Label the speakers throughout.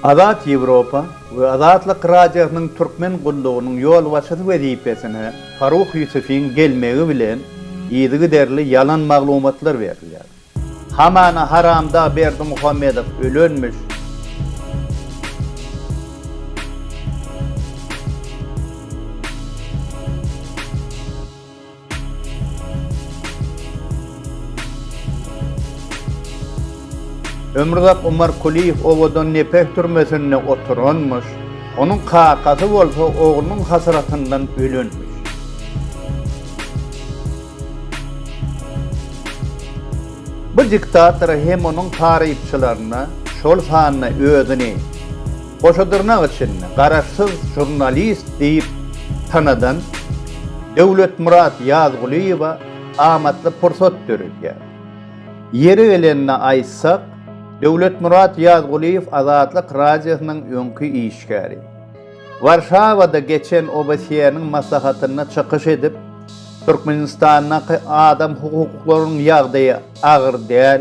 Speaker 1: Azat Ýewropa we Azatlyk Radiosynyň Türkmen gullugynyň ýolbaşçysy wezipesine Farruh Ýusufiň gelmegi bilen yzygiderli ýalan maglumatlar berilýär. Hamana haramdag Berdimuhamedow ölenmiş. Ömruzak Umar Kuliýew owadan Nepeh türmesinde oturanmyş, onuň kakasy bolsa oglunyň hasratyndan ölenmiş. Bu diktatora hem onuň tarypçylaryna, şol sanda özüni. Goşadyrnak içinde garaşsyz žurnalist diýip tanadan Döwletmyrat Ýazgulyýewa amatly pursat döredýär. Ýeri gelende aýtsak, Döwletmyrat Ýazgulyýew Azatlyk Radiosynyň öňki işgäri. Warşawada geçen OBSE-niň maslahatynda çykyş edip, Türkmenistandaky adam hukuklarynyň ýagdaýy agyr däl,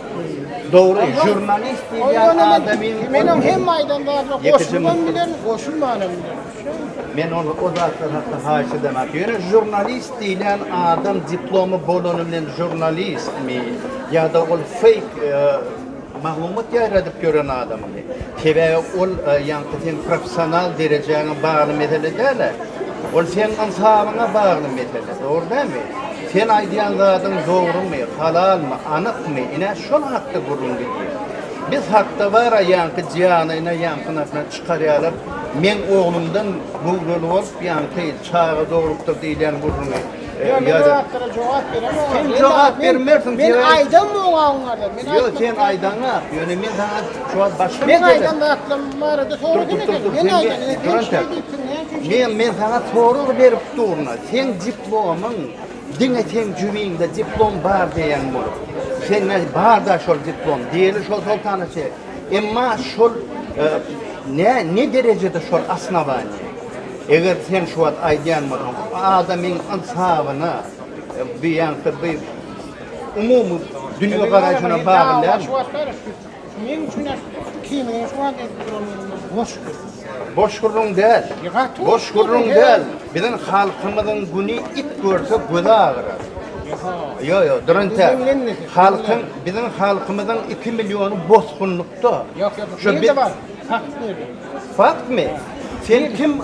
Speaker 2: Dogry,
Speaker 1: jurnalist diýýän adamyň Meniň hem aýdan
Speaker 2: zadyma goşulman bilen, goşulmanam bilen. Men ol
Speaker 1: o zatlar hakda haýyş edemok. Ýöne jurnalist diýlen adam diplomy bolany bilen jurnalistmi ýa-da ol feýk e, maglumat ýaýradyp ýören adam. Sebäbi ol ýaňky seň professional derejäňe bagly mesele däl-ä. Ol seň ynsabyňa bagly mesele, dogry dälmi? Sen aýdýan zadyň dogrumy, halalmy, anykmy, ine, şol hakda gürrüň gidýär. Biz hakda bar-a ýaňky janyny ýaňkyň astyna çykarýarlar, meň oglumdan göwreli bolup ýaňky çaga dogrulypdyr diýilýän gürrüňi. Ýa men ol atlara
Speaker 2: jogap
Speaker 1: beremok.
Speaker 2: Sen jogap
Speaker 1: bermersiň. Men aýdam oňa
Speaker 2: oňarda. Men Ýok, sen
Speaker 1: aýdaňa. Ýöne men saňa şu wagt başga bir Men aýdan
Speaker 2: zatlarym barada
Speaker 1: soradyň
Speaker 2: eken.
Speaker 1: Men aýdan eken. Men men
Speaker 2: saňa sorag
Speaker 1: berip durna. Sen diplomyň diňe sen jübiňde diplom bar diýen bolup. Sen ne bar da şol diplom. Diýeli şol soltana çek. Emma şol e, ne ne derejede şol asnawany. Eger sen şu wagt aýdýan bolsaň, adamyň ynsabyna, bi ýa-da bi umumy dünýegaraýşyna bagly dälmi? Meň üçin kimiň
Speaker 2: şu wagt aýdyp durandygy boş
Speaker 1: gürrüň. Boş gürrüň däl. Boş gürrüň
Speaker 2: däl.
Speaker 1: Biziň halkymyzyň güni it görse gözi agyrar. Ýok, ýok, dur entek. Halkyň, biziň halkymyzyň iki milliony bosgunlykda. Ýok, ýok, bu
Speaker 2: ýerde bar.
Speaker 1: Fakt
Speaker 2: berdim. Faktmi?
Speaker 1: Sen kim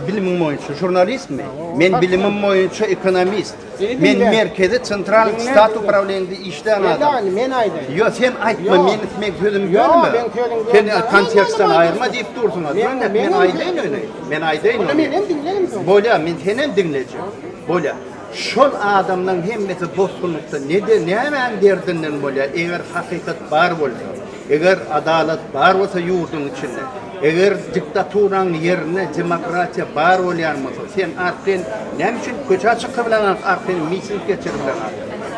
Speaker 1: bilimiň boýunça? Žurnalistmi? Men bilimim boýunça ekonomist. Men
Speaker 2: merkezi
Speaker 1: central stat uprawleniýede işlän adam. Men aýdaýyn.
Speaker 2: Ýok,
Speaker 1: sen
Speaker 2: aýtma,
Speaker 1: meniň meniň sözümi bölme. Ýok, meniň sözümi
Speaker 2: bölme.
Speaker 1: Sen
Speaker 2: kontekstden aýyrma diýip
Speaker 1: dursuň.
Speaker 2: Ýöne
Speaker 1: men aýdaýyn
Speaker 2: öňe.
Speaker 1: Men
Speaker 2: aýdaýyn.
Speaker 1: Onda menem diňleýin soň.
Speaker 2: Bolýar, men senem
Speaker 1: diňlejek. Bolýar. Şol adamlaň hemmesi bosgunlykda nede nämäň derdinden bolýar eger hakykat bar bolsa eger adalat bar bolsa ýurduň içinde eger diktaturaň ýerinde demokratiýa bar bolýan bolsa sen arkaýyn näme üçin köçä çykybileňok arkaýyn miting geçiribileňok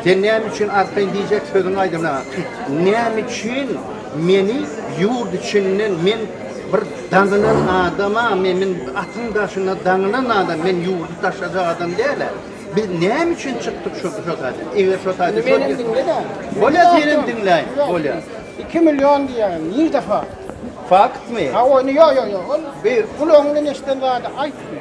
Speaker 1: sen näme üçin arkaýyn diýjek sözüňi aýdybileňok näme üçin Meni ýurt içinden men bir daňylan adama me men atyň daşyna daňylan adam men ýurdy taşlajak adam dälä biz näme üçin çykdyk şu şo taýda eger şo taýda Indi meni diňle de.
Speaker 2: Bolýa senem
Speaker 1: diňläýin bolýa. Iki million
Speaker 2: diýýän nji defa. Faktmy?
Speaker 1: Hawa indi ýok ýok ýok
Speaker 2: ol beýik
Speaker 1: gulagyňdan eşiden
Speaker 2: zady aýtma.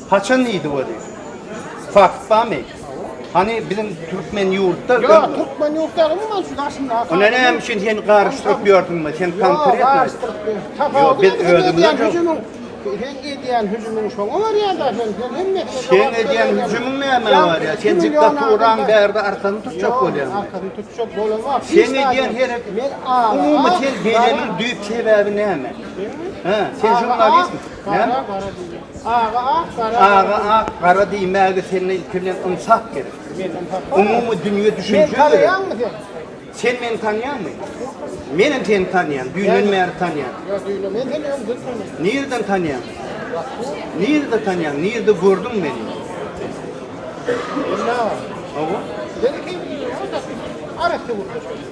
Speaker 1: Haçan diýdi we diýdi. Fakt barmy? Hany biziň türkmen ýurtda Ýok, türkmen ýurt
Speaker 2: däl, umuman şu daşyndaky. Onda näme üçin sen
Speaker 1: garyşdyryp ýörsüňmi? Sen konkretno. Ýok, garyşdyryp ýörsün. Ýok, biz özümiz. Sen edýän hüjümiň
Speaker 2: şoňa barýar-da, sen sen hemmesine. Sen
Speaker 1: edýän hüjümiň nämä barýar? Sen diktaturaň bärde arkasyny tutjak bolýaň. Arkasyny tutjak
Speaker 2: bolamok. Sen edýän
Speaker 1: herek, umumy sen beýleniň düýp sebäbi näme? He, sen jurnalistmi? Näme? Aga ak, gara gara. Aga ak, gara diýmäge sende ilki bilen ynsap gerek. Men ynsap barmy? Umumy dünýe düşünje Meni gerek. tanaýaňmy sen? Sen meni tanýaňmy? Menem seni tanýan, düýnden bäri tanýan. Ýok, düýnden men seni öňden tanaýan. Nireden tanýaň? Bak bu. Nirede tanýaň? Nirede gördüň meni? Ýa. Hawa. Sen kim?
Speaker 2: Arassa gürleşýän.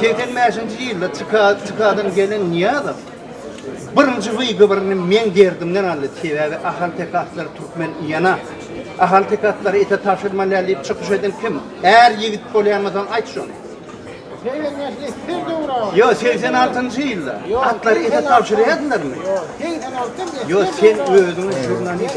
Speaker 1: Segsen bäşinji ýylda TK-dan gelen Nyýazow birinji wygybyryny Meň derdimden aldy, sebäbi ahalteke atlary türkmen ýana, ahalteke atlary ete tabşyrmalýar diýip çykyş eden kim? Är ýigit bolýanmysan aýt şony. Segsen bäşde her döwür aga. Ýok, segsen altynjy ýylda. Atlary ete tabşyrýardylarmy? Ýok,
Speaker 3: segsen altynjy ýylda. Ýok, sen özüňi žurnalist.